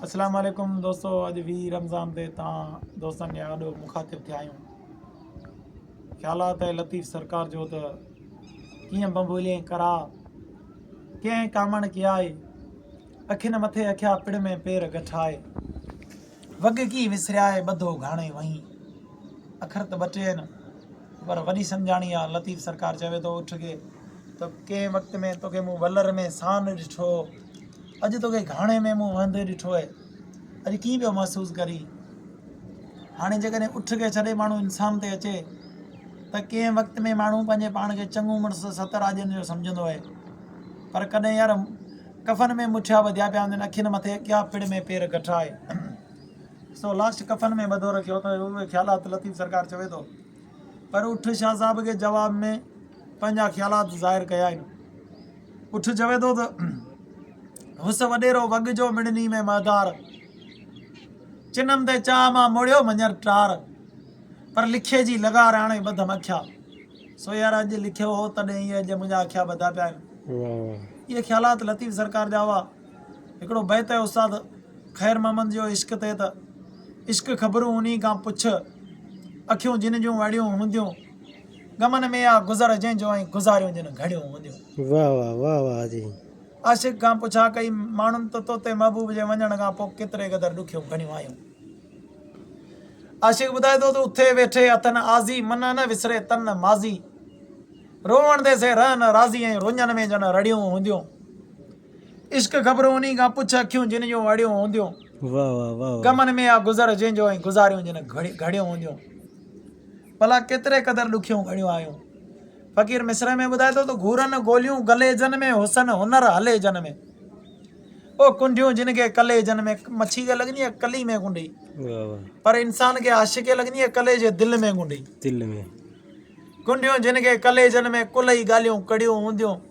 اسلام عليڪم دوستو اڄ ويهه رمضان تي توهان دوستن جي آڏو مخاطب ٿيا آهيون خيالات ۽ لطيف سرڪار جو ته ڪيئن بمبولي ڪرا ڪنهن ڪامڻ ڪي آئي اکين مٿي اکيا پڙ ۾ پير گٺائي وڳ ڪي وسريائي ٻڌو گھاڻي وهين اکر ته ٻه ٽي آهن پر وڏي سمجهاڻي آ. لطيف سرڪار چوي ٿو اٺ کي ته ڪنهن وقت ۾ توکي مون ولر ۾ سان ڏٺو هو. اڄ توکي گهاڻي ۾ مون وهندي ڏٺو هي. اڄ ڪيئن پيو محسوس ڪرين؟ هاڻي جيڪڏهن اٺ کي ڇڏي ماڻهو انسان تي اچي ته ڪنهن وقت ۾ ماڻهو پنهنجي پاڻ کي چڱو مڙس ست راڄن جو سمجهندو هي. پر ڪڏهن يار ڪفن ۾ مٺيا ٻڌيا پيا هوندين، اکين مٿي ڪيا پڙ ۾ پير گٺا هي. سو لاسٽ ڪفن ۾ ٻڌو رکيو ته اهي خيالات لطيف سرڪار چوي ٿو پر اٺ شاهه صاحب کي جواب ۾ پنهنجا خيالات ظاهر ڪيا آهن اٺ چوي ٿو ته هوس وڏيرو وڳ جو مڙني ۾ مهدار چنم تي چاهه مان موڙيو منجر ٽار پر لکي جي لغار آڻي ٻڌم اکيا سو يار اڄ لکيو هو تڏهن اهي اڄ منهنجا اکيا ٻڌا پيا آهن اهي خيالات لطيف سرڪار جا هئا هڪڙو بيت آهي استاد خير محمد جو عشق تي ته عشق خبرون انهي کان پڇ اکيون جن جون اڙيون هونديون غمن ۾ آ گذر جنهن جو ۽ گذاريون جن گهڙيون هونديون واھ واھ واھ واھ جي. عاشق کان پڇا ڪئي ماڻهن ته توتي محبوب جي وڃڻ کان پوء ڪيتري قدر ڏکيون گهڙيون آيون. عاشق ٻڌائي ٿو ته اٿي ويٺي اٿن آزي منهن نه وسري تن نه ماضي روئڻ دي سي رهن راضي ۽ رڃن ۾ جن رڙيون هونديون. عشق گهٻرو انهي کان پڇ اکيون جن جون اڙيون هونديون غمن ۾ آ گذر جنهن جو ۽ گذاريون جن گهڙيون هونديون ڀلا ڪيتري قدر ڏکيون گهڙيون آيون فقير مصرع ۾ ٻڌائي ٿو ته گهورن گوليون گلي جن ۾ حسن هنر هلي جن ۾ او ڪنڊيون جن کي ڪلي جن ۾ مڇي کي لڳندي آ ڪلي ۾ ڪنڊي پر انسان کي عاشق کي لڳندي آ ڪلي جي دل ۾ ڪنڊي دل ۾ ڪنڊيون جن کي ڪلي جن ۾ ڪلهي ڳالهيون ڪڙيون هونديون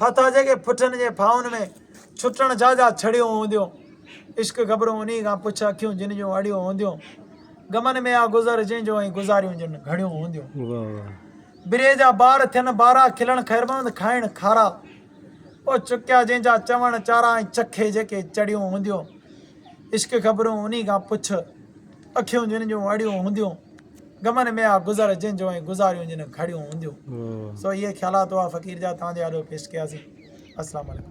ڦاٿا جيڪي پٺن جي ڦاهن ۾، ڇٽڻ جا جا ڇڙيون هونديون. عشق گهٻرو انهي کان پڇ اکيون جن جون اڙيون هونديون. غمن ۾ آ گذر جنهن جو ۽ گذاريون جن گهڙيون هونديون. بري جا بار ٿين بارا کلڻ خيرمند کائڻ کارا. او چڪيا جنهن جا چوڻ چارا ۽ چکي جيڪي چڙيون هونديون. عشق گهٻرو انهي کان پڇ اکيون جن جون اڙيون هونديون. غمن ۾ آ گذر جنهن جو ۽ گذاريون جن گهڙيون هونديون سو اهي خيالات هئا فقير جا توهان جي آڏو پيش ڪياسين السلام عليڪم.